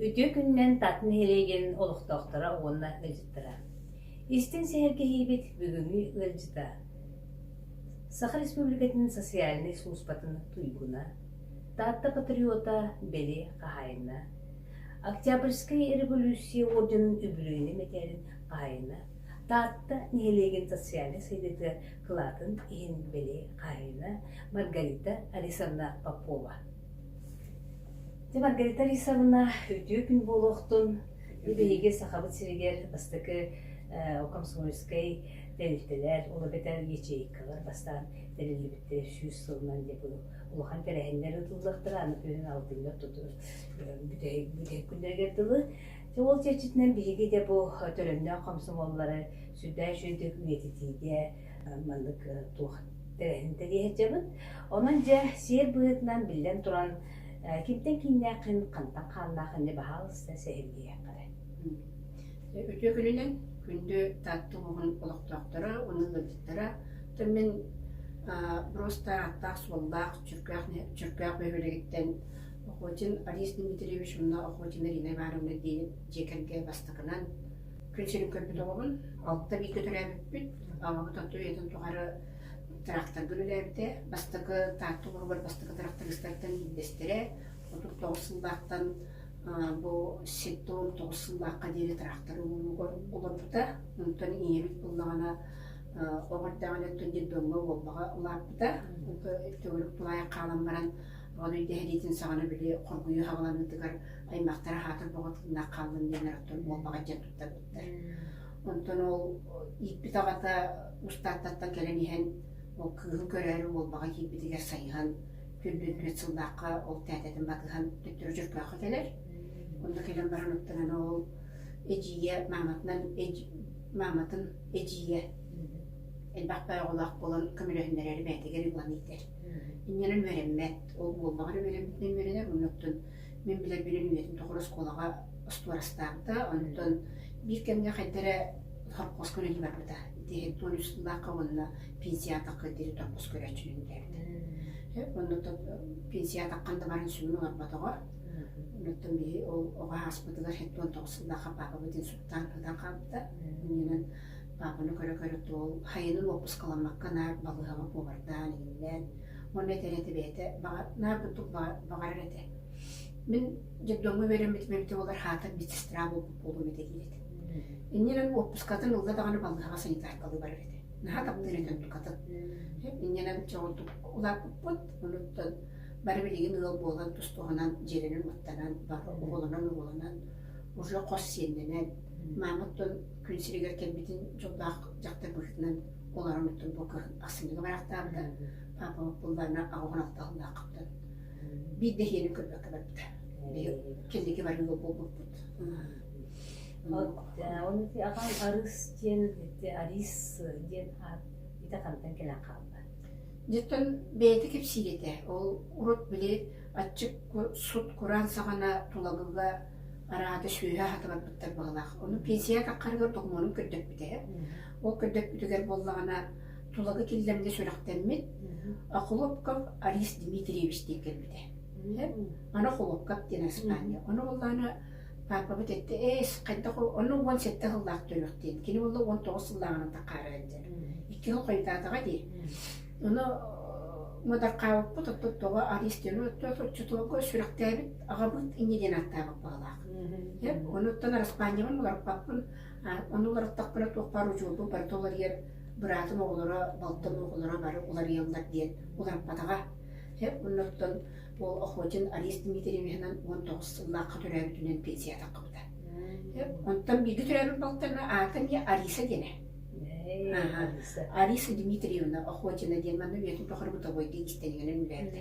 Үтүө күнүнэн Тат нэһилиэгин олохтоохторо уонна ыалдьыттара. Истин сэһэргэһиибит бүгүҥҥү ыалдьыта. Саха Республикатын социальнай службатын туйгуна, Таатта патриота Бели хаһайына, Октябрьскай революция орденын үбүлүөйүнэ мэтээлин хаһайына, Таатта нэһилиэгин социальнай сайдыытыгар кылаатын иһин били хаһыына Маргарита Арисовна Попова. Дьэ, Маргарита Арисовна, үтүө күн буолуохтун. Биһиги Сахабыт сиригэр бастакы комсомольскай тэрилтэлэр, ол эбэтэр ячейкалар бастаан тэриллибиттэрэ сүүс сылынан диэн улахан тэрээһиннэр ыытыллыахтара, аны күһүн алтыннар бүтэһик күннэригэр дылы Ол чэрчитинэн биһиги дэ бу төлөннөөх хомсомуоллары сүрдээх үчүгэйдик үйэтитиигэ маннык туох тэрээһин тэрийэһэрдьэбит. Онон дьэ сиэр быһыытынан биллэн туран кимтэн кииннээххин, хантан хааннааххын ини баһаалыста сэһэргиһиэххэ эрэ. Үтүө күнүнэн күндү Таатта улууһун олохтоохторо уонна ыалдьыттара тон мин броста ааттаах-суоллаах Чөркөөх Бөһүөлэгиттэн Охотин Алис Дмитриевич мунна Охотина Ирина Ивановна диэн дьиэ кэргэ бастакынан күн сирин көрбүт оҕобун алта бииргэ төрөөбүппүт аҕабыт отто үйэтин тухары тырахтаргын үлээбитэ бастакы таатта олоругар бастакы тырахтарыстартан биирдэстэрэ отут тоҕус сыллаахтан бу ситтон тоҕус сыллаахха диэри тырахтары олорбута онтон ийэбит буллаҕына оҕо эрдэҕинэттэн детдомҥа уолбаҕа улааппыта онтон төгүрүк тулаайах хаалан баран Ол өйдөһүнүүтүн саҕана били хоргуйуу хаҕыланыытыгар аймахтара аһаатар бөҕөт гыннах хааллын диэн оттон буолбаҕа дьон туттарбыттар. Онтон ол ииппит аҕата Устааттаттан кэлэн иһэн ол кыыһы көрөөрү Уолбаҕа киирбитигэр сайыһан түллүн түөрт сыллаахха ол тээтэтин батыһан төттөрү Дьөркөөххө кэлэр. Онно кэлэн баран оттоон ол эдьиийэ мааматынан мааматын эдьиийэ элбэх байоҕолоох буолан көмөлөһүннэрэри бээтигэр ибылан ийтэр. Иннинэн үөрэммэт, ол буоллаҕа эрэ үөрэммитинэн үөрэнэр, оннуктан мин билэрбинэн үйэтин тухары оскуолаҕа остуорастаабыта, онтон биир кэмҥэ хайда эрэ сорокуоска үлэлии барбыта. Итиэхинтэн он үс сыллаахха уонна пенсия атахха диэри сорокуос көрөөччүнүн биэрдэ. Оннуттан пенсия атаххан да баран сүмүн олорботоҕо. Оннуттан били ол оҕо ааспытыгар сэттэ уон тоҕус сыллаахха паапабыт инсултаан ытан хаалбыта. Иннинэн паапаны көрө-көрө тоол хайынын уоппускаламмакка наар балыыһаҕа куобардаан иһиллээн уонна этэрэ бэйэтэ баҕа наар курдук баҕарар этэ мин детдомҥа үөрэммитим эбитэ буолар хаатар медсестра буолбут буолуом этэ диир этэ иннинэн уоппускатын ылла даҕаны балыыһаҕа санитаркалыы барар этэ наһаа таптыыр этэ оннукатын иннинэ чоҕурдук улааппыппыт онуттан бары билигин ыал буолан тустуһунан дьиэлэнэн уоттанан оҕолонон оҕолонон уже хос сиэннэнэн маамыттан күн сиригэр кэлбитин дьоллоох дьахтар быһыытынан олорон ортон бу көрөн ахсынньыга барахтаабыта папа буллаана аҕыһахтаһыллаахпытын биир да иһиэнин көрбөккө барбыта кэллики барыыга буолбуппут онути аҕам арыс диэн арис диэн аат ити хантан кэлэн хаалла дьиттэн бэйэтэ кэпсиир этэ ол урут били аччык сут кураан саҕана тулагыга араата сүүһэ аһата барбыттар баҕалаах. Ону пенсияҕа таххарыгар доҕумуонум көрдөппүтэ. Ол көрдөппүтүгэр буоллаҕына тулагы киллэмҥэ сүрэхтэммит Холопков Арис Дмитриевич диэн кэлбитэ. Аны Холопков диэн аспаанньа. Ону буоллаҕына паапабыт этэ эс хайдах ону уон сэттэ сыллаах төрүөхтиин кини буолла уон тоҕус сыллааҕынан таххаарар диэн икки сыл хойутаатаҕа дии ону мыдархаабыппыт оттоттоҕо арис диэн отчотуолга сүрэхтээбит аҕабыт инньэ диэн ааттаабыт баҕалаах. Оны оттон араспаанньабын уларыппаппын, ону уларыттахпына туохпар учуутум барыта уларыйар, быраатын оҕолоро, балтын оҕолоро бары уларыйаллар диэн уларыппатаҕа. Оннуттан ол охотин Арист Дмитриевиһынан уон тоҕус сыллаахха төрөөбүтүнэн пенсия таххыбыта. Онтон бииргэ төрөөбүт балтарына аата эмиэ Ариса диэнэ. Ариса Дмитриевна Охотина диэн манна үйэтин тухары бытовой диэн кистэнигинэн үлээтэ.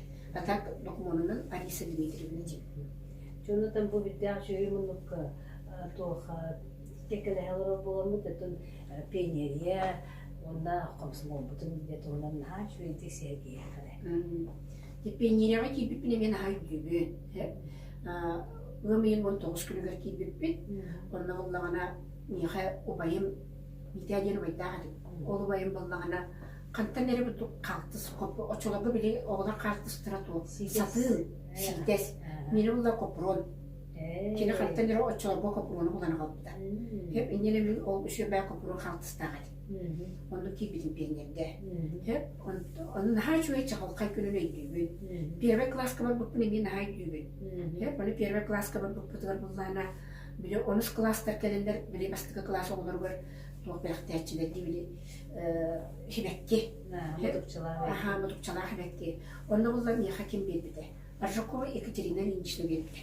А так докумуонунан Ариса Дмитриевна дии. Дьонутан бу бирдээх дьүһүй муннукка туоха тиэкэлэһэ олорор буоламмыт өтүн пионерия уонна комсомолбутун диэ туһунан наһаа үчүгэйдик сэргиэхэрэ. Пионерияҕа киирбиппин эмиэ наһаа өйдүүбүн. Ыам ыйын уон тоҕус күнүгэр киирбиппит. Онно буллаҕына миэхэ убайым Митя диэн убайдаах этим. Ол убайым буллаҕына Хантан эрэ хаартыс очолорго били оҕолор хаартыстара туох сатыы ситэр мені булла копрон кини хантан эрэ очолорго копрону булан аҕалбыта хэп инньэн эми ол үсүөбэ копрон хаартыстаах этим онну киирбитим пионерде хэп ону наһаа үчүгэй чаҕылхай күнүн өйдүүбүн первый класска барбыппын эмиэ наһаа өйдүүбүн хэп ону первый класска барбыппытыгар буллаана били онус класстар кэлэллэр били бастакы класс оҕолоругар туох бэлэхтээччилэр дии били хибэкки мотукчалаах хибэкки онно булла миэхэ ким биэрбитэ Аржакова Екатерина Ильинична биэрбитэ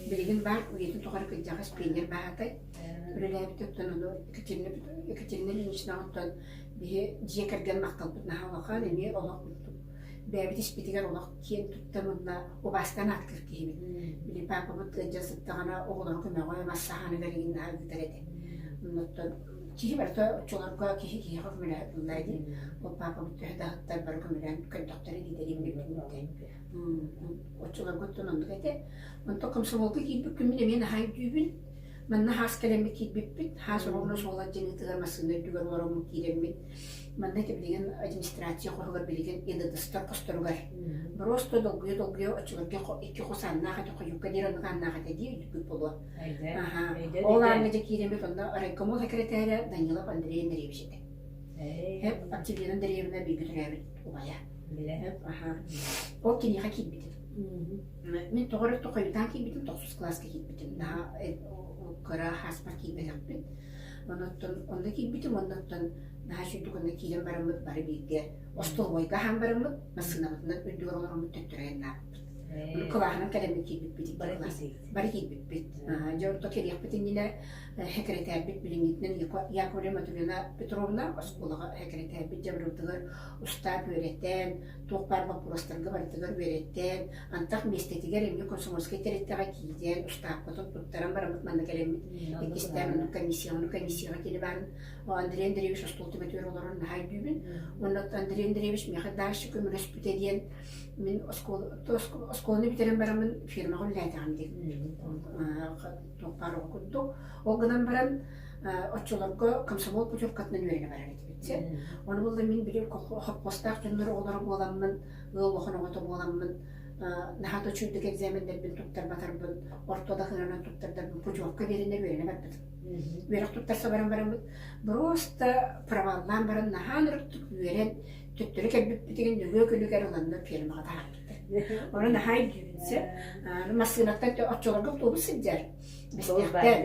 билигин баар үйэтин тухары кырдьаҕас пионер баһаатай үлэлээбит оттон ону Екатерина Екатерина Ильинична оттон биһи дьиэ кэргэн махталбыт наһаа улахан эмиэ олох урдук бэйэбит испитигэр олох киэн туттан уонна убаастаан ааттыыр киһибит били паапабыт дьэ сыттаҕына оҕолоро көмөҕө мас саһааныгар игин наһаа ыытар этэ оннуттан Киһи мөлтөө оччолорго киһи киһиэхэ көмөлөһө дии. Ол паапабыт төһө да аһыттар бары көмөлөһөн көрдөхтөрө дии дэлим гиммиттэрин. Оччолорго оттон оннук этэ. Онтон комсомолга киирбит күммүн эмиэ наһаа өйдүүбүн. Манна хаас кэлэммит киирбиппит. Хаас оруобуна суола дьиҥитигэр массыына үрдүгэр олороммут киирэммит. Манна ити билигин администрация хоһугар билигин НДСтар хосторугар. Бороосто долгуйа-долгуйа оччолорго икки хос ааннаах этэ, хойукка диэри оннук ааннаах этэ дии өйдүппүт буолуо. ол ааҥҥа дьэ киирэммит онно райкомол секретаря Данилов Андрей Андреевич этэ эп отделенан дэриэбинэ бииргэ төрөөбүт убайа эп аха ол киниэхэ киирбитим мин тоҕо эрэ тохойутаан киирбитим тохсус класска киирбитим наһаа кыра хааспар киирбэтэхпин онуттан онно киирбитим оннуттан наһаа сүрдүк онно киирэн бараммыт бары бииргэ остолобуойга аһаан бараммыт массыынабытынан үрдүгэр олороммут төттөрү айаннаабыппыт кылааһынан кэлэммит киирбиппит икки класс бары киирбиппит. Дьэ орто кэлиэхпит иннинэ сэкирэтээрбит билиҥҥитинэн Яковлевна Матвеевна Петровна оскуолаҕа сэкирэтээрбит дьабырылдыгар устаап үөрэтэн, туох баар боппуруостарга барытыгар үөрэттэн, антах миэстэтигэр эмиэ комсомольскай тэрилтэҕэ киирэн, устааппытын туттаран бараммыт манна кэлэммит. Иккистээн оннук комиссия, оннук комиссияҕа кини баарын Андрей Андреевич остуол түбэтигэр олорон наһаа өйдүүбүн. Уонна Андрей Андреевич миэхэ даарщык көмөлөспүтэ диэн Мин оскуоланы бүтэрэн бараммын фирмаҕа үлэлээтэҕим дии туох баар оҕо курдук. Ол гынан баран оччолорго комсомол путевкатынан үөрэнэ барар этибит син. Ону булла мин били хоппостаах дьоннор оҕолоро буоламмын, ыал улахан оҕото буоламмын наһаа да учуйдук экзаменнэрбин туттарбатарбын, орто да сыһыанынан туттардарбын путевка биэрэннэр үөрэнэ барбытым. Үөрэх туттарса баран бараммыт, просто проваллаан баран наһаа ырыктык үөрэн, Төттөрү кэлбиппитигин дьөгүө күлүгэр ыланна фермаҕа таһаарбыттар. Ону наһаа өйдүүбүнсэ. Массыыната оччолорго автобус сылдьар. Бэстээхтэн.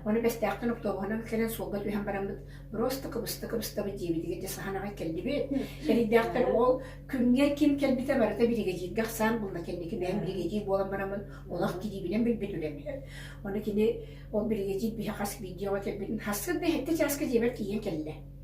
Ону бэстээхтэн автобуһунан кэлэн суолга түһэн бараммыт просто кыбыста кыбыстабыт диэбитигэр дьэ саһанаҕа келдибит. Эрийдээхтэр ол күнгэр ким кэлбитэ барыта биригэдьииргэ ахсаан булна кэнники бэйэм биригэдьиир буолан бараммын олох кириибинэн билбит үлэми. Ону кини ол биригэдьиир биһэ хас биирдиэҕэ кэлбитин хассын да хэттэ чааска дьиэбэр тиийэн кэллэ.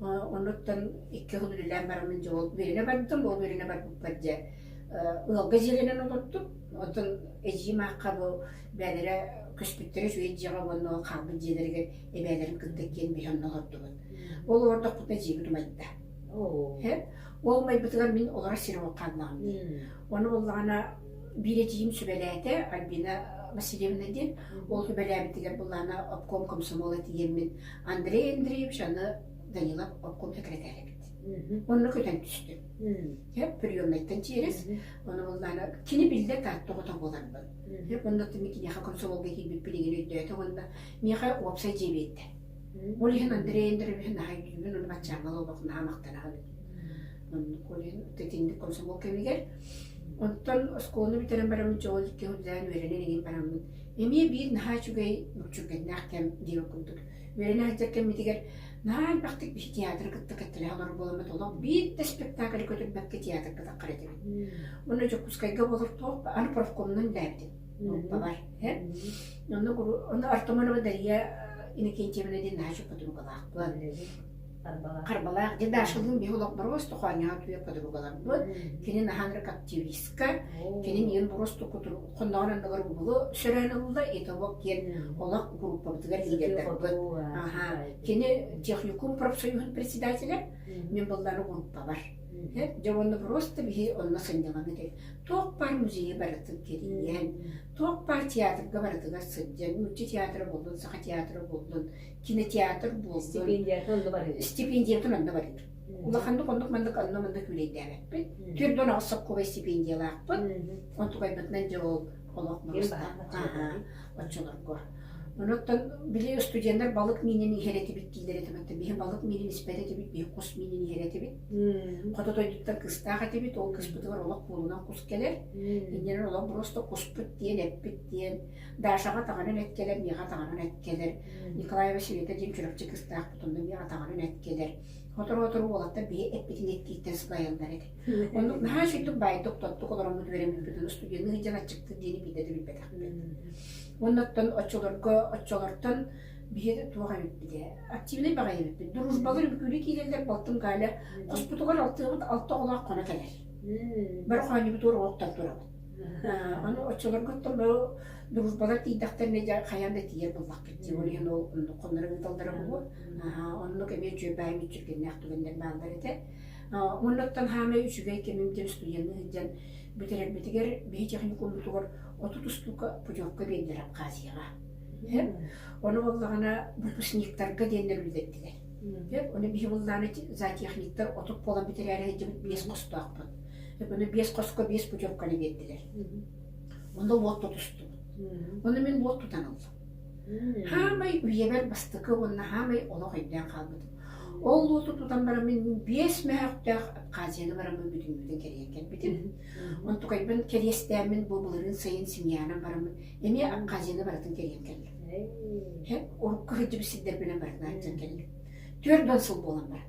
Онуттан икки хонук үлэлээн бараммын дьэ ол Верина барбыттым, ол Верина барбыппар дьэ ыалга дьиэлэнэн олордум. Оттон эдьиийим аахха бу бэйэлэрэ көспүттэрэ үчүгэй дьиэҕэ уонна хаалбыт дьиэлэригэр эбээлэрин кырдык диэн биһи онно олордубут. Ол олордохпутуна дьиэбит умайда. Ол умайбытыгар мин олорор сирим хааллаҕым дии. Ону буллаҕына биир эдьиийим сүбэлээтэ Альбина Васильевна диэн. Ол сүбэлээбитигэр буллаҕына обком комсомола тиийэммин Андрей Андреевич аны Данилов обком сэкирэтээрэ эбит. Онно көтөн түстүм. Дьэ, приемнайтан чиэрис, оны буллаана кини биллэр тааттоҕото буоларбын. Дьэ, оннуттан киниэхэ комсомолга киирбит билигин өйдөөтө уонна миэхэ уопсай дьиэ биэрдэ. Ол иһин Андрей Андреевич наһаа өйдүүбүн, оны баччааҥҥа олобох наһаа махтанаҕын. Онно Колин ититинник комсомол кэмигэр. Онтон оскуоланы бүтэрэн бараммыт дьоҕун икки хондаан үөрэнэн игин бараммыт. Эмиэ биир наһаа үчүгэй нууччулгэннээх кэм диир курдук. Үөрэнэ сылдьар кэммитигэр наһаа элбэхтик биши театры кытта кэттэлэһэ олорор буоламмыт олох биирдэ спектакль көтүрбэккэ театр кытаххар этэбин. Уонна Дьокуускайга болор туох аны профкомунан үлээбитим. Нуоппабар. Онно Артамонова Дария Иннокентьевна диэн наһаа чоппутунугалаахпын. Харбалаах дьэ Дашалыын биһи олохпорго остохоонньоот үйэ кодугу баларбыт. Кинин ахан рек активистка, кинин иын буросту кутур хонноҕынан набаргубулу сөрөөн ылла, итовок киэн олох группабытыгар киирдэрбит. Аха, кини техникум профсоюһун председателя, мен баллары группабар. Жавонна просто биһи онно сынньаланыты. Туох пар музейи барытын кирийэн, туох пар театрга барытыгар сылдьан, мүчче театры булдун, саха театры булдун, кинотеатр буоллун стипендиятын онно барыыр стипендиятын онно барыыр улаханнык оннук маннык онно манна күүлэйдээбэппин түөрт уон аҕыс солкуобай стипендиялаахпын онтугайбытынан дьэ ол олох муруста оччолорго онуттан били студенттар балык миинин иһэр этибит диилэр этэ мантан биһи балык миинин испэт этибит биһи кус миинин иһэр этибит хоту дойдуттан кыстаах этибит ол кыспытыгар олох куулунан кус кэлэр иннинэн олох просто куспут диэн эппит диэн Дашаҕа таҕарын эккэлэр, миэхэ таҕарын эккэлэр. Николай Васильевич диэн чурапчы кыстаах тутунна, миэхэ таҕарын эккэлэр. Сотору-сотору уолаттар биһи эппитин эттииттэн сылайаллар эти. Оннук наһаа үчүгдүк баайдык тоттук олороммут үөрэммиппитин устудьуоннуу сылдьан аччыкпыт диэни биирдэ да билбэтэхпин. Оннуттан оччолорго оччолортон биһи туох эбиппит ээ активнай баҕайы эбиппит дружбалар үҥкүүнү киирэллэр балтым Галя хоспутугар алтыабыт алта оҕолоох хоно кэлэр бары хоонньубут уор оҕоктор турабыт Аны оччолорго оттонору дружбалар тиийдэхтэринэ дьэ хайаан да тиийэр буоллаххыт дии, ол иһин ол оннук хонноро ыыталлара буолуо. Оннук эмиэ дьүөбэйим иччиргэннээх түгэннэр бааллар этэ. Оннуттан хаамай үчүгэй кэмим диэн студенна сылдьан бүтэрэрбитигэр биһи техникуммутугар отут устуука путевка биэрдилэр Абхазияҕа. Ону буоллаҕына выпускниктарга диэннэр үлэтэттилэр. Ону биһи буллааны зоотехниктар отут буолан бүтэрээри сылдьыбыт биэс хостоохпут. Өкөнө биэс хоско биэс путевканы биэрдилэр. Онно уот тутустубут. Ону мин уот тутан ыллым. Хаамай үйэбэр бастакы уонна хаамай олох өйдөөн хаалбытым. Ол уоту тутан баран мин биэс мөһөхтөөх Абхазияны бараммын бүтүннүүтүн кэрийэн кэлбитим. Онтукайбын кэриэстээмин бу былырыын сайын семьянам бараммын эмиэ Абхазияны барытын кэрийэн кэллим. Урукку сылдьыбыт сирдэрбинэн барытын арыйсан кэллим. Түөрт уон сыл буолан баран.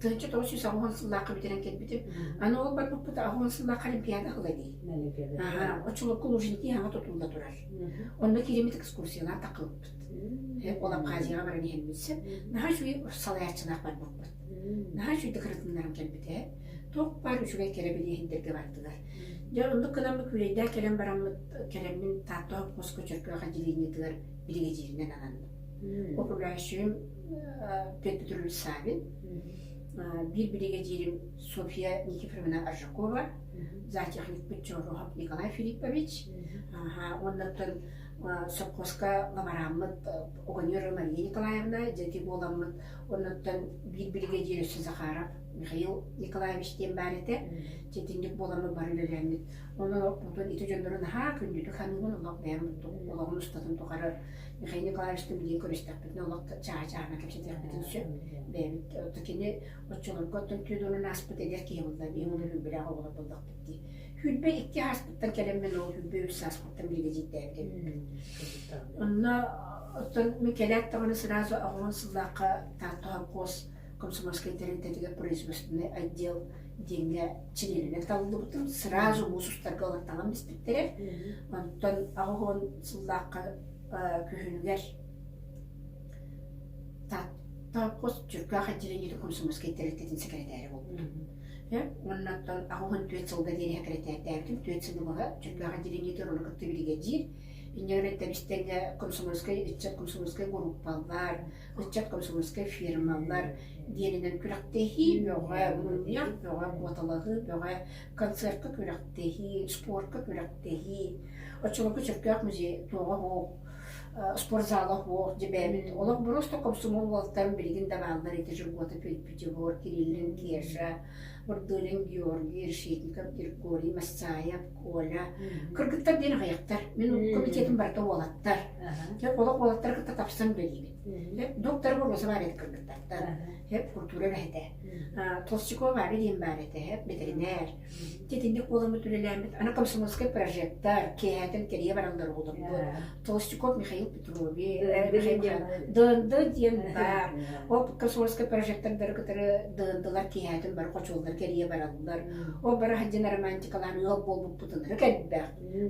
Кыраччы тоҕус сүүс оҕоһун сыллаахха бүтэрэн кэлбитим. Аны ол барбыппыта оҕоһун сыллаахха олимпиада аһыла дии. Очолорго Лужники хаҥа тутулла турар. Онно киириммит экскурсиялаах тахылбыт. Ол Абхазияҕа баран иһэн билсэн, наһаа үчүгэй салайааччылаах барбыппыт. Наһаа үчүгэй декоративнарым кэлбитэ. Туох баар үчүгэй кэрэбилиэһиндэргэ бардылар. Дьэ оннук гынан Бүкүлэйдээх кэлэн бараммыт кэлэммин Таатта хоско Чөркөөх отделениетыгар биригэдьииринэн ананным. управляющайым Петр Петрович Савин биир биригэдьиирим Софья Никифоровна Аржакова зоотехникпыт Чороһов Николай Филиппович уоннаттан сопхуоска ломарааммыт огонер Мария Николаевна дьэти буоламмыт оннуттан биир биригэдьиир өссө Захаров Михаил Николаевич диэн баар этэ дьэтинник буоламмыт бары үлэлээммит онон оппутун ити дьоннору наһаа күндүтүк ханыбын олох бэйэм олоҕун устатын тухары Михаил Николаевичтан билигин көрүстэхпитинэ олох чаачаана кэпсэтиэхпитин сөп. Бэйэбит кини оччолорго оттон Теодорун ааспыт эдэр киһи булла, биһим ону билбэлээх оҕолор булдахпыт дии. Хүйбэ икки ааспыттан кэлэн мен ол Хүйбэ үс ааспыттан билигэ дьийтээбит эбиппит. Онно оттон мен кэлээт даҕаны сразу оҕолон сыллаахха Тартоһа Кос комсомольскай тэрилтэтигэр производственнай отдел диэҥҥэ чилиэнинэн талыллыбытым сразу муус устарга ылаттанан биспиттэрэ онтон аҕыс уон сыллаахха күһүнүгэр хос Чүркөөх отделениети комсомольскай тэрилтэтин сэкирэтээри буолбутум уонна оттон аҕыс уон түөрт сылга диэри сэкирэтээрдээбитим түөрт сылы быһа Чүркөөх отделениеты оруна кытта биригэдьиир Инньэ эрэн итэн истэҥҥэ комсомольскай ыччат комсомольскай группалар, ыччат комсомольскай фирмалар диэнинэн күрэхтэһии бөҕө, мунньах бөҕө, куоталаһыы бөҕө, концертка күрэхтэһии, спортка күрэхтэһии, оччолорго Чөркөөх музей туоҕа оһуох, спортзала оһуох, дьэбээмин олох просто комсомол уолтан билигин да бааллар ити дьылҕата Петь-Пятигор, Кириллин Кеша, Бырдылин Георгий, Решетников Иргорий, Массаев, Коля. Кыргыттар диэн аҕайахтар. Мин комитетим барыта уолаттар. Хеп олох уолаттары кытта тапсан үлэлиибит. Доктор Боруоса баар еді кыргыттартан. Хеп культура бэһэтэ. Толстякова баар диэн баар этэ. Хеп ветеринар. Титинник уоламмыт үлэлээммит. Ана комсомольскай прожектар. Киэһэтин кэрийэ бараллар уолларбыт. Толстяков Михаил ДНД диэн ол космоска прожектордары кытары ДНД-лар киэһээтин бары хочуоллар кэрийэ бараллар. Ол бара сылдьан романтикалаан ыал буолбуппутун ыры кэлбэх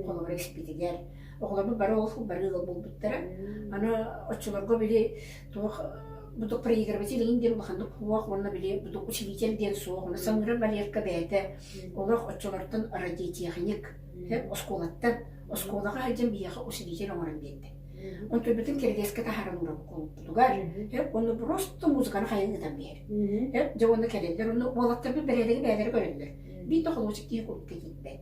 холобур экспитигэр оҕолорбут бары ол бары ыал буолбуттара аны оччолорго били туох будук проигрыватель ин диэн улаханнык суох уонна били будук учитель диэн суох уонна саныыра валерка бэйэтэ олох оччолортон радиотехник оскуолаттан Оскуолаҕа сылдьан биһиэхэ учредитель оҥорон биэрдэ. Онтубутун киригэскэ таһааран уурабыкколбутугар өр уонна просто музыканы хайан ыытан биһэр. Өр дьэ уонна кэлэллэр уонна уолаттарбыт бэрээдэги бэйэлэрэ көрөллөр. Биир хомуурчук тиһи курдук кэтииппэт.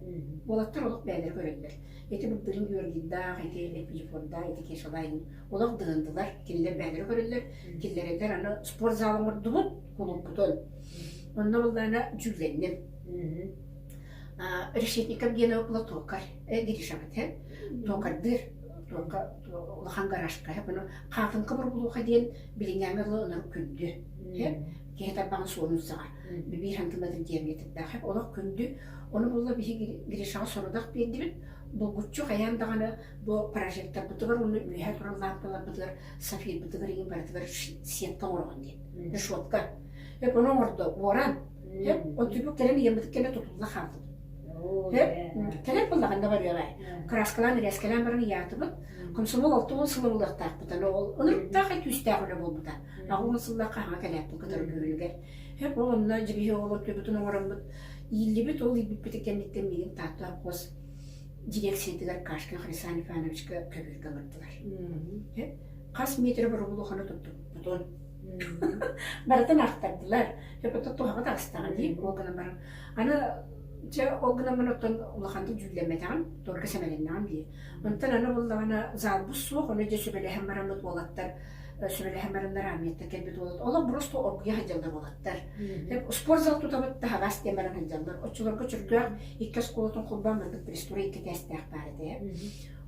Уолаттар олох бэйэлэрэ көрөллөр. Ити былдырын Юргидаах, ити Эпифордаах, ити Кешалайн олох дыһындылар. Кинилэр бэйэлэрэ көрөллөр. Киллэрэллэр аны спортзал оҥордубут, кулууппутун. Онно буоллаана дьүүллэнним. решетников диэн лотуокар дирижабытын туокардыр туока улахан гаражка бұны хаатынка бургулуха диэн билиҥҥэми олы ынар күндү киһи тарбаҕын суонунсаҕа бибиир хантылатын диэмгетирдээх олох күндү оны булла биһи гришаҕа сорудах биэрдибит булгуччу хайаан даҕаны бу прожекторбытыгар уонна үөһэ туран лаампаларбытыгар сафирбытыгар иҥин барытыгар сетка оҥороҕун диэн решетка эп ону оҥордо буоран Һөп, оттубу кэлэн ыйаммытыт кэмэ тутулла хаатын. Һөп, кэлэн буллаҕында барыаҕай. Краскалаан, рээскэлээн баран ыйаатыбыт. Комсомол алта уон сыл ылыахтаахпыт. Аны ол ылырыктаах этүүстээх үлэ буолбута. Аҕа уон сыллаахха аһаҕа кэлээппин кытары бүгүнүгэр. Һөп, ол онно дьигиһи ол оттубутун оҥороммут. Ииллибит, ол иилбиппитин кэнниттэн миигин Таатта хос дирекциятыгар Кашкин Хрисан Ивановичка көбүөргэ олордулар. Хас метр боробулуханы туттубуппутун. барытын аахтардылар епотот туһаҕа таҕыстаҕа дии ол гынан баран аны дьэ ол гынан баран оттон улахантык дьүүллэммэтэҕим туорка сэмэлэннэҕим дии онтон аны буллаҕына залбус суох ону дьэ сүбэлэһэн бараммыт уолаттар сүбэлэһэн баран нарааммыттан кэлбит уолат олох просто оргуйа сылдьаллар уолаттар спорт зал тутабыт таһаҕас диэн баран сылдьаллар оччолорго чөрдөөх икки оскуолатын холбоон барбыт пресс тура икки кээстээх баар этэ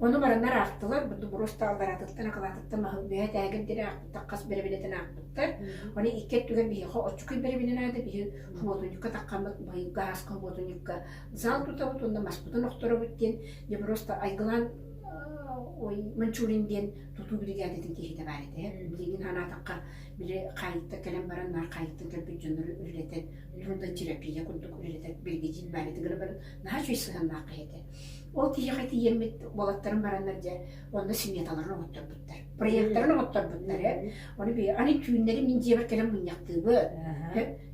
Ону бараннар аахтылар, Дубуруостаах Араатыттан, Акылаатыттан маһы үөһэ тээгир диэри аахпыттар, хас бэрэбиэнэтин аахпыттар. Оны икки өттүгэр биһиэхэ оччукуй бэрэбиэнэ наада, биһи хомуотунньукка таххаммыт, баһыйга ааска хомуотунньукка зал тутабыт уонна маспытын охторобут диэн Деброста Айгылаан ой Манчулин диэн тутуу биригээдэтин киһитэ баар этэ. Билигин санаатахха били хаайытта кэлэн баран наар хаайыттан кэлбит дьоннору үлэлэтэн, уонна терапия курдук үлэлэтэр биргидиин баар этэ гына баран наһаа үчүгэй сыһыаннаах киһи этэ. Ол киһиэхэ тиийэммит уолаттарым бараннар дьэ онно сметаларын оҕотторбуттар. Проекттарын оҕотторбуттар. Оны би аны түүннэри мин дьиэбэр кэлэн мунньахтыыбыт.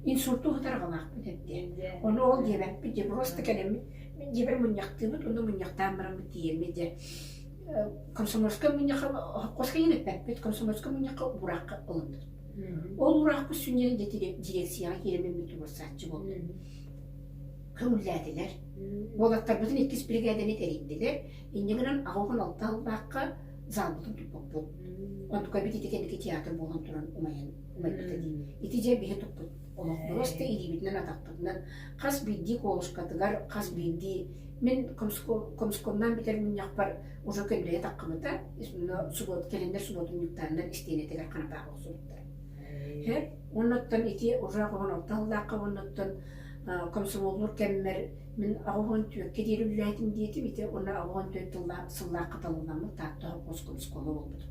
Инсульту ытарҕалаахпыт эрдэ. Оны ол диэбэппит дьэ просто кэлэммит мин дьиэбэр мунньахтыыбыт онно мунньахтаан бараммыт тиийэммит дьэ комсомольскай мунньахха хоско ириэппэппит комсомольскай мунньахха бураахха олордут. Ол ураахпыт сүнньэни дьириэксийэҕэ кииреммиппит туруорсааччы буолбут. көҥүллээтилэр. Уолаттарбытын иккис биригээдэни тэрийдилэр. Инньэ гынан аҕа уһун алта сыллаахха заалбытын туппуппут. Онтукка эбит ити кэнники театр буолан туран умайан умайбыта дии. Ити дьэ биһи туппут олох буруосты илиибитинэн атахпытынан хас биирдии колушкатыгар хас биирдии мин комскомнаан бүтэр мунньахпар уже көндөйө таххыбыта субуот кэлэннэр субуотунньуктааннар истиэнэтигэр ханатаах охсубуттар. Уоннаттан ити уже хоһон алта сыллаахха уоннаттан комсомоллуур кэммэр мин аҕыс уон түөркэ диэри үлэлээтим диэтим ити уонна аҕыс уон төрүт сыллаахха талылламмыт таатта оскуола буолбутум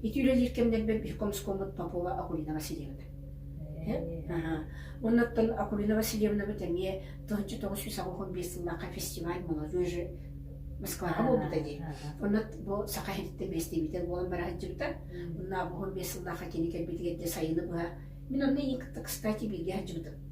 ити үлэлиир кэмнэрбэр биир комсомолмут попова акулина васильевна оннуттан акулина васильевнабыт эмиэ тыһынча тоҕус жүз аҕыс он биэс сыллаахха фестиваль молодежи москваҕа буолбута дии онно бу саха иһиттэн бэстибиитэл буолан бара сылдьыбыта онно аҕыс он биэс сыллаахха кини кэлбитигэр дьэ сайыны быһа мин онно иин кытта кстати бииргэ сылдьыбытым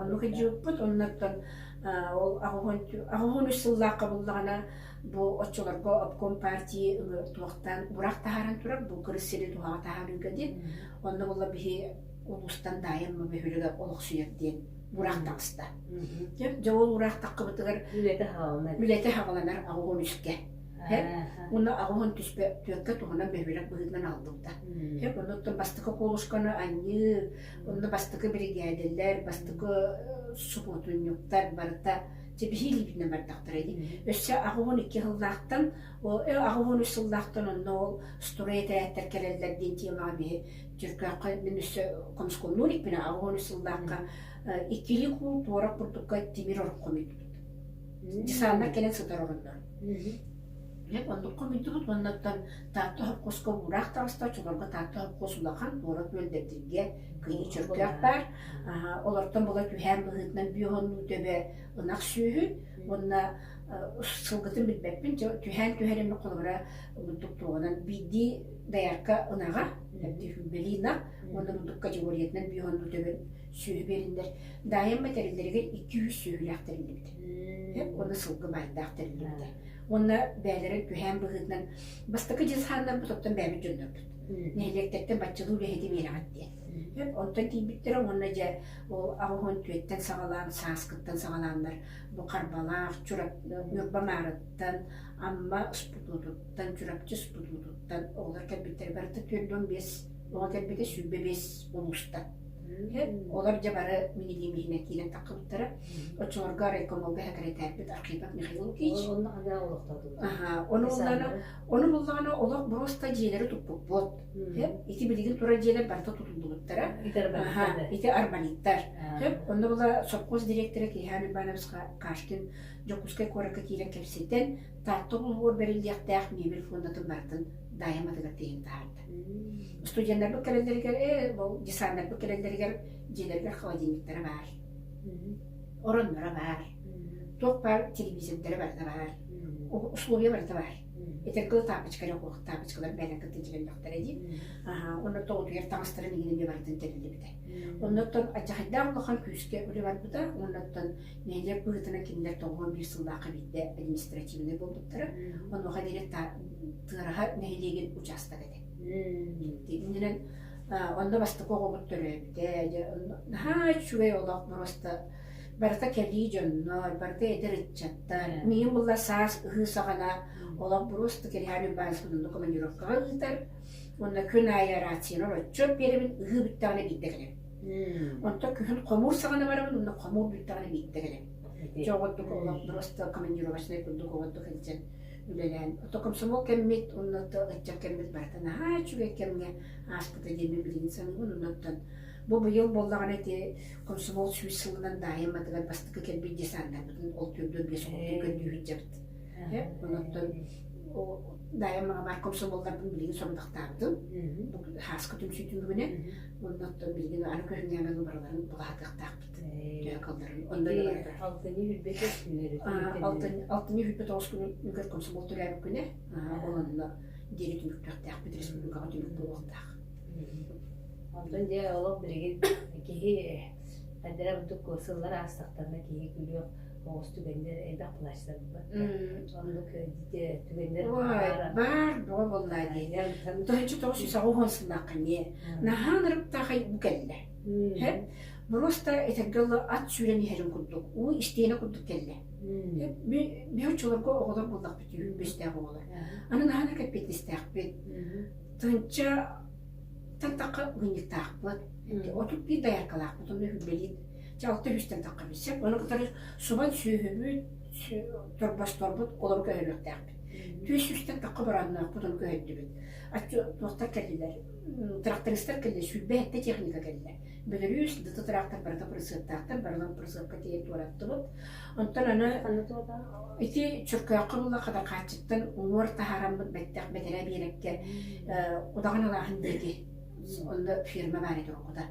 Ону хидьииппут оннуттан ол аҕыһын үс сыллаахха буллаҕына бу оччолорго обком партии туохтан бурақ таһааран турар бу кырыс сири туһаҕа таһаарыыга диэн онно була биһи улуустан даайын мы бөһүлүгэ олохсуйар диэн бураах таҕыста дьэ ол ураах тахқыбытыгар үлэтэ хааланар үлэтэ хаҕаланар аҕыһын үскэ Оны аҕыһын түспө түөркэ туһунан бөһүрек быһыытынан албыта. Эк онуттан бастакы колушканы аньыы Онно бастакы биригээдэлэр, бастакы субуотунньуктар барыта дьэбиһиилиибитинэн бардахтара ини. Өссө аҕыс уон икки сыллаахтан ол аҕыс уон үс сыллаахтан онно ол стройэтээттэр кэлэллэр диэн тиэмэҕэ биһи Дьөркөөххө мин өссө хомскомнуун иккинэ аҕыс уон үс сыллаахха иккилии куул туорах курдукка тимир орох хомуйдубут. Десантнар кэлэн сытар оруннар. Оннук хомуйдубут уонна оттон Таатта холкуоска уураах таҕыста, оччолорго Таатта холкуос улахан, куорат үөлдэрдэргэ кыһын чөркөөх баар. Олортон була түһээн быһыытынан бүөһүннүү төбө ынах сүөһү уонна сылгытын билбэппин, түһээн түһэр эмэ холобура ордук туоҕунан биирдии доярка ынаҕа, били ынах уонна ордук категориятынан бүөһүннүү төбө сүөһү биэриллэр. Даайам мэтэриллэригэр икки-үс сүөһүлээх тэриллибит. Уонна сылгы баардаах тэриллибитэ. уонна бэйэлэрэ түһээн быһыытынан бастакы дьылхааннарбыт оттон бэйэбит дьоннорбут нэһилиэктэртэн баччалыы үлэһити биэрэҕит диэн оттон тиийбиттэрэ уонна дьэ ол аҕыһын түөттэн саҕалаан сааскыттан саҕалааннар бу харбалаах чурап ньурба маарыттан амма спутутуттан чурапчы спутутуттан оҕолор кэлбиттэрэ барыта түөрт уон биэс оҕо кэлбитэ сүүрбэ биэс улууста Иһэ, олор дьэ бары минигиим иһинэ киирэн таххыбыттара. Оччолорго райкомолга сэкирэтээрбит Архипов Михаил Ильич. Онно ханна олохтотубут? Аха, ону буллаҕына, ону буллаҕына олох буруоста дьиэлэри туппуппут. Һэ, ити билигин турар дьиэлэр барыта тутуллубуттара. Ити арбалиттар Ити арбалиттар. Һэ, онно була сопхуос дириэктэрэ Киһаан Ивановичка Кашкин Дьокуускай куоракка киирэн кэпсэтэн, Таатта улууһугар бэриллиэхтээх мебель фондатын барытын Даайам атыгар тиһэн таһаарда. Студеннарбыт кэлэллэригэр, э, десантнарбыт кэлэллэригэр дьиэлэригэр холодильниктара баар, оронноро баар, туох баар телевизордара барыта баар, условия барыта баар. Этэр кылы таапочкалар окуох таапочкалар бэйэлэрин кытта тилэллэхтэрэ дии. Онно тоҕутугар таҥастарын игин эмиэ барытын тэлиллибитэ. Онноттон адьахайдаан улахан күүскэ үлэ барбыта. Онноттон нэһилиэк быһыытынан кинилэр тоҕуон биир сыллаахха биирдэ административнай буолбуттара. Онуоха диэри Тыараһа нэһилиэгин учаастак этэ. Иннинэн онно бастакы оҕобут төрөөбүтэ. Дьэ наһаа үчүгэй олох просто барыта кэлии дьоннор, барыта эдэр ыччаттар. Миин булла саас ыһыы саҕана олох просто Кириһаан Уйбаанспын онно командировкаҕа ыытар. Онно күн аайы рациялар отчуот биэрэбин, ыһыы бүттэҕинэ биирдэ кэлэбин. Онто күһүн хомуур саҕана барабын, онно хомуур бүттэҕинэ биирдэ кэлэбин. Дьэ оҕоттук олох просто командировочнай курдук оҕоттук илдьэн үлэлээн то комсомол кэммит уонна то ыччат кэммит барыта наһаа үчүгэй кэмҥэ ааспыта диэммин билигин саныыбын оннуттан бу быйыл буоллаҕына ити комсомол сүүс сылынан даайымматыгар бастакы кэлбит дии сананарбытын ол түөрдүн биэс курдук көрдүүһүнчэбит оннуттан даайымаҕа баар комсомолларбын билигин сорудахтаабытым хааска түмсүүтүн бүгүнэ оннуттан билигин аны көрүҥнээмэн барыларын былаһатыахтаахпыт алтынньы үрбэт алтынньы үрбэт оҕус күнүн үгэр комсомол төрөөбүккүнэ олонно диэри түмүктүөхтээх бит республикаҕа түмүк буолуохтаах онтон дьэ олох билигин киһи эрдэрэ бутук сыллар аастахтарына киһи күлүөх оҕус түгэннэр элбэх плащтарбыт оннук түгэннэр баар бөҕө буолла диэн торынчы тоҕус саҕа уһун сылааххыне наһаан ырыктаахай бу кэллэ Һэр просто этэргэ дылы ат сүүрэн иһэрин курдук уу истиэнэ курдук кэллэ. Били оччолорго оҕолор буоллахпыт үһүн бүстээх оҕолор. Аны наһана кэппиэтинэстээхпит. Тынча таттахха мунньуктаахпыт. Отут биир дояркалаахпыт онно үлэлиир. Дьэ алта үстэн таххабыт сөп. Аны кытары субан сүөһүбүт, торбосторбут олору көһөрүөхтээхпит. Түөс үстэн тахха бырааннаахпыт оны көһөрдүбүт. Аччы туохтар кэллилэр Тырахтарыстар кэллэ, сүүрбэ сэттэ техника кэллэ. Бөлөрүүс дыты тырахтар барыта прысыптаахтар, барыларын прысыпка тиэйэн туораттыбыт. Онтон аны ити чөркөөххө була хадахааччыттан уҥуор таһаараммыт бэттэх бэтэрээ биэрэккэ удаҕан алааһын диэки онно фирма баар этэ оргута.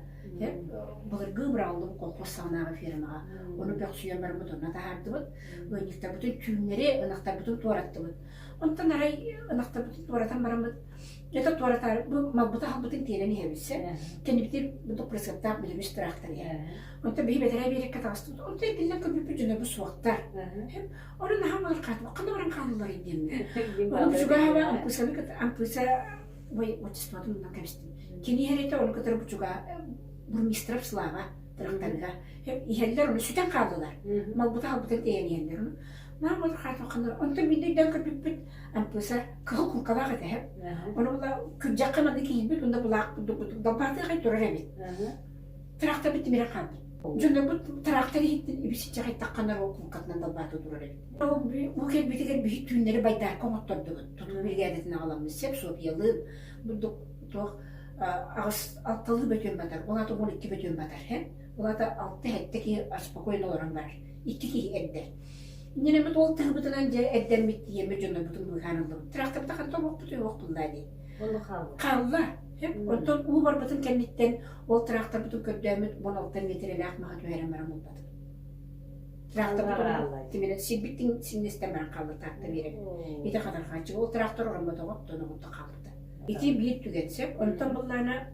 Былыргы бырааллым колхоз саҕанааҕы фирмаҕа ону бөхсүйэн барыммыт онно таһаардыбыт. Ыанньыктарбытын түүннэри ынахтарбытын туораттыбыт. Онтон арай ынахтарбытын туоратан бараммыт Дьэ туоратар бу мапбыта аһылбытын тиэрэн иһэбит сэ. Кэннибитир бу пресаттаах бүлүгүс тыраахтар иһэ. Онтон биһи бэтэрээ биэриккэ таҕыстыбыт. Онтон итиннэ көбүппүт дьоно бу суохтар. Орон аһам олор хаатыбык хана орон хаалыллар идиэммэ. Ону бучугааба ампыысаны кытта ампыыса бой отчествотун мундан кэбистим. Кини иһэрите оны кытары бучугаа бурмистров слава тырахтарга. Иһэллэр оны сүтэн хаалылар. Малбыта аһылбытын тиэрэн иһэллэр. Маа вот хаатыбак хана. Онтон миннэйден көбүппүт ампыысар кыһыл куҥкалаах этэ ону була күрдьэххэ манна киирбит онно былаах курдук курдук далбаатыахай турар эбит тыраахтарбыт тимирэ хаалбыт дьоннорбут тыраахтар иһиттин ибисичэхэйтахханар ол куҥкатынан далбаата турар эбит уу кэлбитигэр биһик түүннэри байдаарка оҥоттордубут тутук биригээдэтин аҕаламмыт сеп-сопиялыын бурдук туох аҕыс алталыы бөтүөн батар он аты он икки бөтүөн батар һэ Уһата алта эттэ киһи спокойно олорон барар. Икки киһи эрдэ. Иннинэ эмит ол тыһыбытынан дьэ эрдэммит тиэмэ дьоннорбутун быыһаан ыллыбыт. Тырахтаптахан тобохпут уйуохпун даа дии. Буолла хаалла. Хаалла. Онтон уу барбытын кэнниттэн ол тырахтарбытын көрдөөмүт он алта миэтирэлээх маха түһэрэн баран булбатым. Тырахтарбытын тимирэ сирбиттин синнестен баран хаалла таатта биэрэн. Ити хатархааччы ол тырахтар ороммотоҕот тоноҕутта хаалбыта. Ити биир түгэн сөп. Онтон быллаана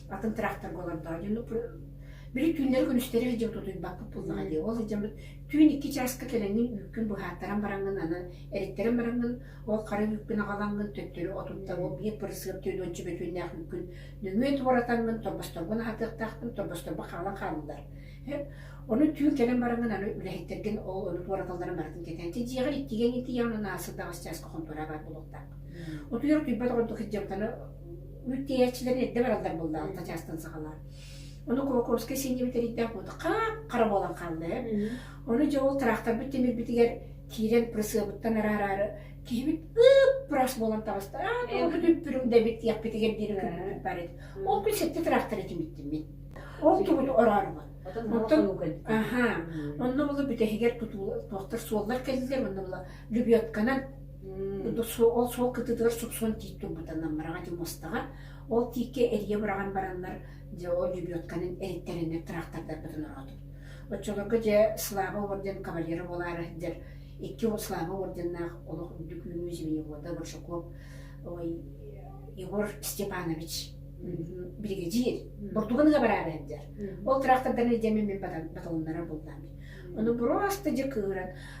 атын тырахтарга олордоҕо диэн уппут били түүннэри-күнүстэри илдьим тутуйбаккыт буоллаҕа дии ол илдьэммит түүн икки чааска кэлэҥҥин үүккүн быһааттаран бараҥҥын анан эриттэрэн бараҥҥын ол хара үүккүн аҕалаҥҥын төттөрү отуттан ол биир пырысыап түөнүөччү бөтүөннээх үүккүн нөҥүө туоратаҥҥын торбосторбун аһатыахтаахпын торбосторбо хаалан хааллылар ону түүн кэлэн бараҥҥын аны үлэһиттэргин ол ону туораталларын барытын кэтээн дьиэҕэр иккигэҥҥин тиийэҕин анаасы таҕыс чааска хонтуораа баар буолуохтаах утуйар утуйбат оҕордук Бүт тиийээччилэр эрдэ бараллар буоллаҕа тачаастан сахалар. Ону Кулаковскай сиэнньэбит тэрийдээх хара буолан хаалла. Ону дьэ ол тыраахтарбыт тимирбитигэр киирэн прысыабыттан араары киһибит ыппырас буолан табаста. Аа тоҕо үппүрүҥ да биттиэхпитигэр диэри күппүт бар еді. Ол күн сэттэ тыраахтары тимиттиммит. Ол түбүт ораарыбыт. Оттон аха, онно була бүтэһигэр тутуулар туохтар суоллар кэллилэр, онно була любетканан Ол суол кытытыгар суксон тиик турбута наммараҕа дьэ мустаҕа. Ол тииккэ эрийэ быраҕан бараннар дьэ ол дьүбүөтканан эриттэрэннэр тыраахтардарбытын ороотум. Оччолорго дьэ Слава орден кавалера буолаары дьэр икки ол Слава орденнаах олох үрдүк үүнүү зимини буолда Большаков ой Егор Степанович биригэдьиир бурдугун ыга бараары дьэр. Ол тыраахтардан илдьэммин мин баталыннара буллаам. Ону буруасты дьэ кыыран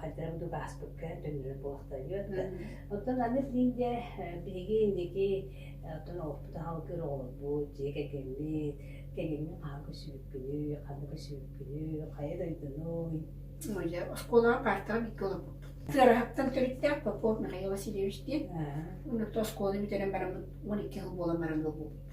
хайдары буду бааспыкка төннөр буохтайыт. Оттон аныс динде биһиги индики оттон оппут халгыр оҕолорбут, дьиэ кэкэммит, кэкэммин хаан көсүбүккүнү, ханна көсүбүккүнү, хайа дойдуну, Моя оскуолаҕа каартаҕа бииргэ олорбуппут. Тыараһаттан төрүттээх Попов Михаил Васильевич диэн. Онно оскуола бүтэрэн бараммыт 12 хил буолан баран олорбуппут.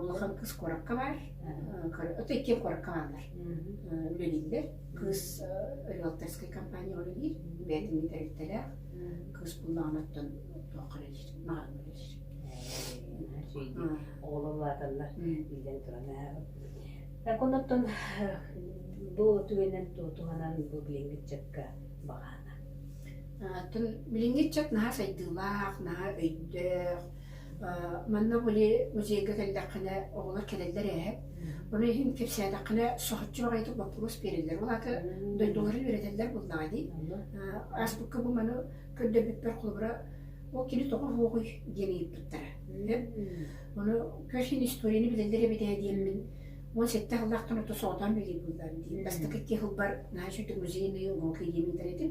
улахан кыыс куоракка баар ото икки куоракка бааллар үлэлииллэр кыыс риэлторскай компанияҕа үлэлиир бэйэтин тэрилтэлээх кыыс буллаҕына оттон туохха үлэлиир маҕан үлэлиир оҕолор улааталлар иилэн туран так онуттан бу түгэннэн туһанан бу билиҥҥитчакка баҕаана атын билиҥҥитчак наһаа сайдыылаах наһаа өйдөөх Манна били музейга кэллэххинэ оҕолор кэлэллэр ээ. Ону иһин кэпсээтэххинэ соһуччу баҕайытык боппуруос биэрэллэр. Ол аата дойдуларын үөрэтэллэр буоллаҕа дии. Ааспыкка бу маны көрдөрбүппэр холобура ол кини тоҕо уһуоҕуй диэн ыйыппыттара. Эн ону көрсүн историяны билэллэр эбит ээ диэммин уон сэттэ сыллаахтан ото соҕотоон билии буоллар дии. Бастакы икки сылбар наһаа үчүгдүк музейнай уруок диэн ыытар этим.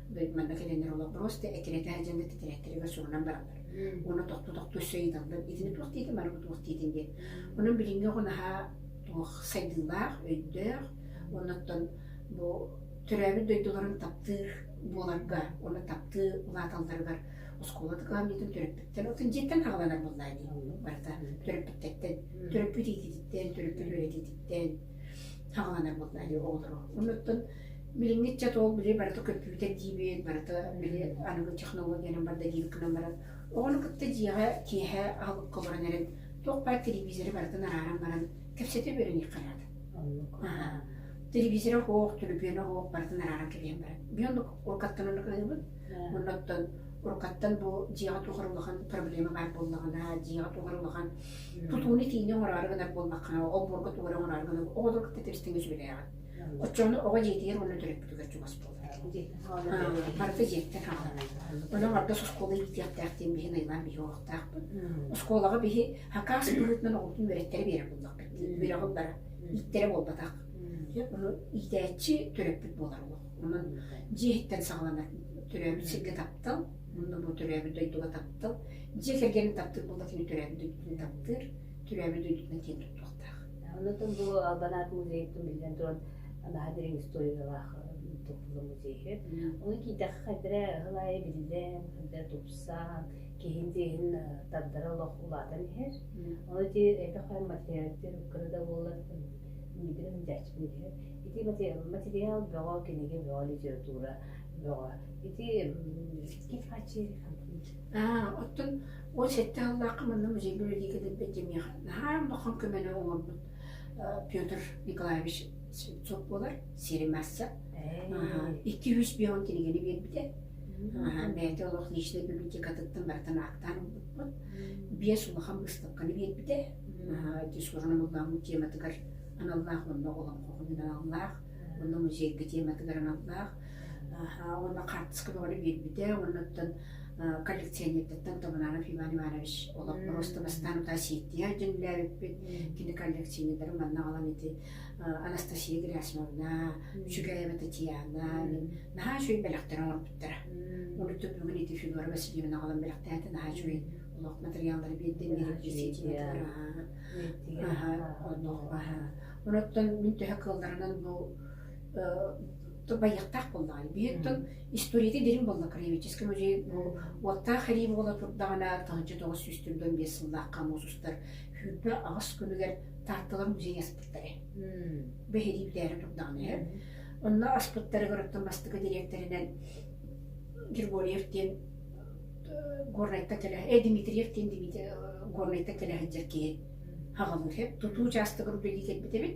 манна кэлэннэр олох просто этирэтэ сылдьан да титирээттэригэр сурунан бараллар уонна тохту тохту өссө ыйыталлар итини туох диитин бары туох диитин диэн онон билиҥҥи оҕо наһаа туох сайдыылаах өйдөөх оннуттан бу төрөөбүт дойдуларын таптыыр буоларга уонна таптыы улааталларыгар оскуола тыкаамньытын төрөппүттэр отун дьиэттэн аҕаланар буоллаа дии барыта төрөппүттэттэн төрөппүт иитититтэн төрөппүт үөрэтиититтэн аҕаланар буоллаа дии оҕолору оннуттан Билиҥҥи ыччат ол били барыта көппүбүтэ диибит, барыта били аныгы технологиянан барда диибит гынан баран, оҕону кытта дьиэҕэ киэһэ аһылыкка олорон эрэн, туох баар телевизоры барытын арааран баран кэпсэтэ үөрэниэххэ наада. Аһа. Телевизора оһох, төлөпүөнэ оһох барытын арааран кэбиһэн баран. Би оннук уруккаттан оннук ыйыбыт. Онно оттон уруккаттан бу дьиэҕэ туох эрэ улахан проблема баар буоллаҕына, дьиэҕэ туох эрэ улахан тутууну-тиини оҥороору гынар буоллаххына, обборга туох эрэ оҥороору гынар, оҕолору кытта тэбистиҥҥэ сүбэлээҕин. Оччону оҕо дьиэтигэр уонна төрөппүтүгэр чугас буолбут дии. Барыта дьиэттэн хаҥаланар. Онон ордос оскуола иитиэхтээх диэн биһи ныйлаан биһи олохтоохпут. Оскуолаҕа биһи хакаас быһыытынан оҕобутун үөрэттэрэ биэрэр буллахпыт дии. Үөрэҕи бара ииттэрэ буолбатах. Ону иитээччи төрөппүт буолар олох. Онон дьиэһиттэн саҕаланар төрөөбүт сиргэ таптал, онно бу төрөөбүт дойдуга таптал, дьиэ кэргэнин таптыыр буолбатын төрөөбүт дойдутун таптыыр. кимээби дойдутунан киэн туттуохтаах. Оннуттан бу Албанаат музейыттан биллэн туран наһаа дириҥ историялаах тупсулу музейы. Оны киитэххэ хайдара ыһыл аайы биллэн, хайдара тупсан, киһин диһин тардара олох улаатан иһэр. Оны ти эпе хай материалдер кырада боллар мидирим дячмиде. Ити материал бөҕө кинигэ бөҕө литература бөҕө. Ити кит хачи хантын. А, оттон Уон сэттэ сыллаахха манна музей библиотека дэлбэт дьэмиэҕэ наһаа улахан көмөнү оҥорбут Петр Николаевич Слепцов буолар Сиримасса. Икки үс бион кинигэни биэрбитэ. Бэйэтэ олох личнэй библиотекатыттан барытын аактаан ылбыппыт. Биэс улахан быыстапканы биэрбитэ. Дискурсуна мыллааммыт тематыгар аналлаах, уонна олоҥхоҕун аналлаах, уонна музейга тематыгар аналлаах. уонна хаартыска бөҕөнү биэрбитэ оннуттан коллекционердартан Таманара Иван Иванович олох просто бастаан утаа ситтия дьиҥлээбиппит кини коллекционердарын манна алан ити Анастасия Герасимовна Чугаева Татьяна наһаа үчүгэй бэлэхтэрин оҥорбуттара олуттан бүгүн ити Федора Васильевна аҕалан бэлэхтээтэ наһаа үчүгэй олох материаллары биэрдин диэбитэ оннук онуттан мин төһө кылларынан бу Байыактаах буоллаҕа. Биир тыл историята дириҥ буолла. Краеведческай музей бу уоттаах арыы буола турдаҕына тыһыынча тоҕус сүүс төрт уон биэс сыллаахха муус устар Күүрбэ аҕыс күнүгэр Таатталар музейы аспыттара. Бэһиэлии бүтээри турдаҕына иһэр. Онно аспыттарыгар бастакы дириэктэринэн Григорьев диэн Горнайта кэлэ э Дмитриев диэн Дмитрий Горнайта кэлэ сылдьар киһи аҕалыыр. Тутуу учаастагар үлэлии кэлбит эбит.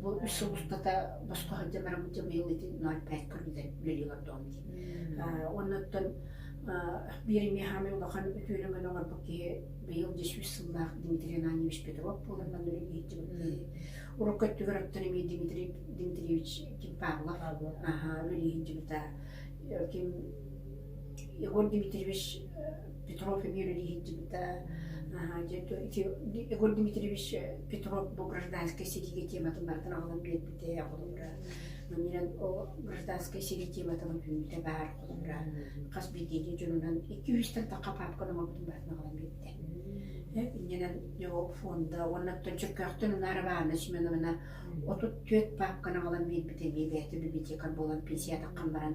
Бу үс сыл устата босхо сылдьан бараммыт дьэ быйыл ити ноль пять көрүллэн үлэлии олордоҕум дии. Оннуттан биир эмиэ хаамай улахан үтүөнүгэн оҥорбут киһи быйыл дьэ сүүс сыллаах Дмитрий Ананьевич Петров буолан манна үлэлиһиттибит. Урукку өттүгэр оттон эмиэ Дмитрий Дмитриевич ким Павлов аһа үлэлиһиттибит ким Егор Дмитриевич Петров эбигэр илиһирдибитэ Егор Дмитриевич Петров бу гражданскай сэриигэ тематын барытын аҕалан биэрбитэ холобура манньынан о гражданскай сэрии тематынан үүтэ баар холобура хас биирдиини дьонунан икки үстэн тахха папка номобутун барытын аҕалан биэрдэ иннинэн фонда уонна төлчөккөөхтөн унаара баанна семеновна отут түөрт папканы аҕалан биэрбитэ бэйбээтэ библиотекар буолан пенсия таххан баран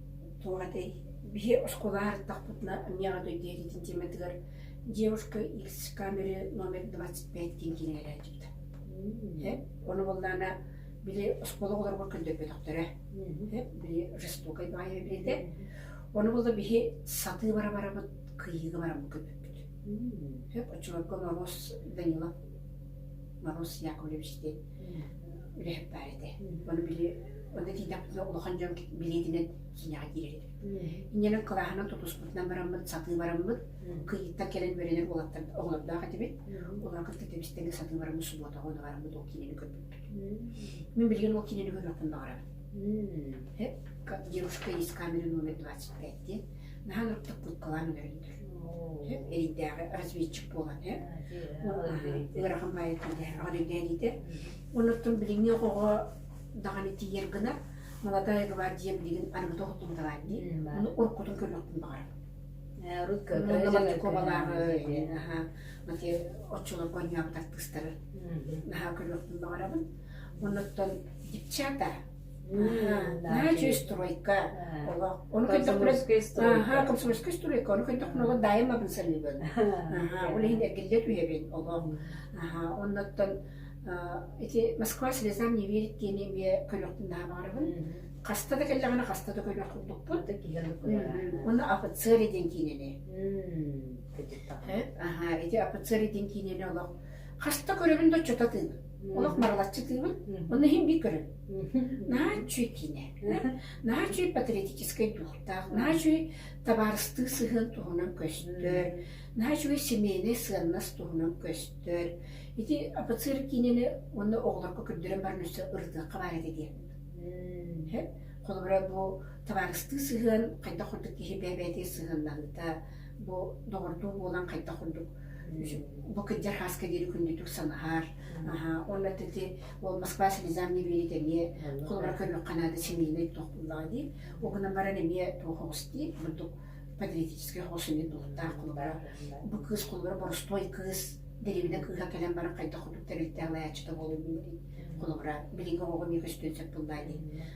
Туох этэй, биһи оскуолаҕа ардахпытына эмиэ аҕа дойду иитиитин тиэмэтигэр девушка икс камеры номер двадцать пять диэн киинэ кэлээччита. Э, Ону буллаана били оскуола оҕолоругар көрдөрбөтөхтөрө. Э, Били жестокой баайа билинэ. Ону булла биһи сатыы бара барабыт, кыйыыга барабыт көрбөппүт. Э, Оччолорго Норуос Данилов, Норуос Яковлевич диэн үлэһит баар этэ. Ону били онно тиийдэхпинэ улахан дьон билиэтинэн киинэҕэ киирэр этэ. Иннэнэн кылааһынан тутуспутунан бараммыт, сатыы бараммыт. Кыйыттан кэлэн үөрэнэр оҕолордоох этибит. Олор кытта тэбистэнгэ сатыы бараммыт субуотаҕа оны бараммыт ол киинэни көрбүппүт. Мин билигин ол киинэни көрүөхпүн баҕарабын. Дедушка есть камеры номер 25 диэн наһаа ынахтык кылкалаан өлөрүннүр эрийдээҕи разведчик буолан ыарахан баайыттан аҕадыйдэниите оннуттан билиҥҥи оҕоҕо даҕаны тиийэр гына молодая гвардия билигин арыгыта оттумуталаанни ону уруккутун көрбөттүн баҕар урут кобалааҕы наһаа мати оччолор гоньяабыт артыыстары наһаа көрбөттүн баҕарабын оннуттан девчата на чистройка олох ону көйдөхпүнэ аха комсомольскай стройка ону көйдөхпүнэ олох дайым абын саныыбын аха ол иһин эргиллиэт үйэбин олох аха оннуттан ити москва слезам не верит диэни эмиэ көнөхтүн наабаарыбын хаста да кэллэҕинэ хаста да көнөх курдукпут оны офицеры диэн киинэни аха ити офицеры диэн киинэни олох хаста көрөбүн да оччото тыын олох барылаччы тыыбын онно иһин би көрөн наһаа үчүгэй киинэ наһаа үчүгэй патриотическай дуоктаах наһаа үчүгэй табаарыстыы сыһыан туһунан көстөр наһаа үчүгэй семейнай сыаннас туһунан көстөр ити офицер киинэни уонна оҕолорго көрдөрөн баран өссө ырытыахха баар этэ диэн холобура бу табаарыстыы сыһыан хайдах ордук киһи бэйэ-бэйэтин сыһыаннаһыыта Бу доҕордуу буолан хайдах курдук бу кырдьар хааска диэри күндүтүк санаһар уонна тити ол Москва слезам не верит эмиэ холобура көрүөххэ наада семейный тохуллаҕа дии ол гынан баран эмиэ туох оҕус дии курдук патриотический оҕус эмиэ туохтаах холобура бу кыыс холобура боростуой кыыс дэриэбинэ кыыһа кэлэн баран хайдах курдук тэрилтээх лаяччыта буолуо диэри холобура билиҥҥи оҕоҕо эмиэ көстүөн сөп тыллаа дии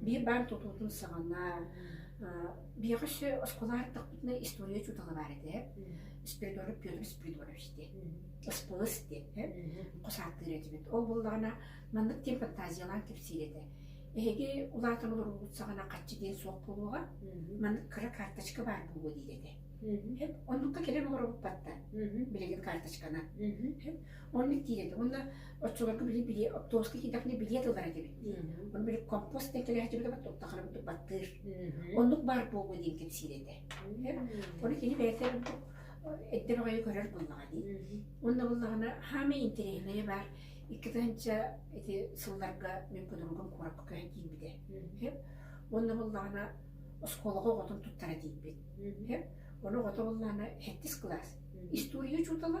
Биир баар тутуутун саҕана биһиэхэ өссө оскуолаҕа артахпытына история учуутала баар этэ. Спиридонов Петр Спиридонович диэн. Ыспылыс диэн. Хос ааттыыр этибит. Ол буоллаҕына маннык диэн фантазиялаан кэпсиир этэ. Эһиги улаатан олороргут саҕана хаччы диэн суох буолуоҕа. Маннык кыра карточка баар буолуо диир этэ. Оннукка кэлэн олоробуппаттан. Билигин карточканан. Оннук диир edi. Уонна оччолорго били били оптовоска киирдэхпинэ билиэт ылар этибит дии. Ону били компост диэн кэлээччибит абат туттахара курдук баттыыр. Оннук баар буолуо диэн кэпсиир этэ. Ону кини бэйэтэ ордук эддэр аҕайы көрөр буоллаҕа дии. Онно буллаҕына хаамай интэриэһинэйэ баар. Икки тыһынча ити сылларга мен подругам куоракка көһөн киирбитэ. Онно буллаҕына оскуолаҕа оҕотун туттара тиийбит. Оны оҕото буллаана 7 класс. История учутала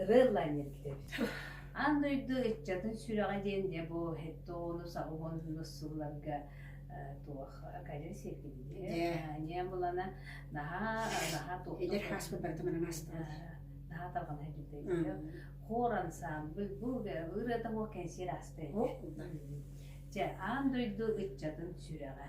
Ырыаллаанньан кэтэбит. Аан дойду ыччатын сүрэҕэ диэн дьэ бу хэттэ оҕону саҕа уулуссууларга туох кадьыр сиэркилиэ ньыамылана наһаа наһаа туохта эдэр хааспыт барыта манан ааспыт наһаа тарҕанар дьүдэйдэ хор ансаамбыл бу ырыата буол кэнсиэр ааспыт дьэ аан дойду ыччатын сүрэҕэ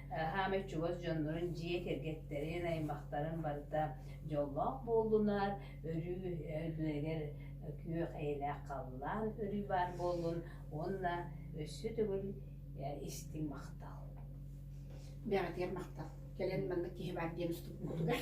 Хаамай чугас дьоннорун, дьиэ кэргэттэрин, аймахтарын барыта дьоллоох буоллунар, өрүү өйдүнэгэр күөх эйэлээх халлаан өрүү баар буоллун уонна өссө төгүл истиҥ махтал. Бэҕэтиэр махтал. Кэлэн манна киһи баар диэн устубуккутугар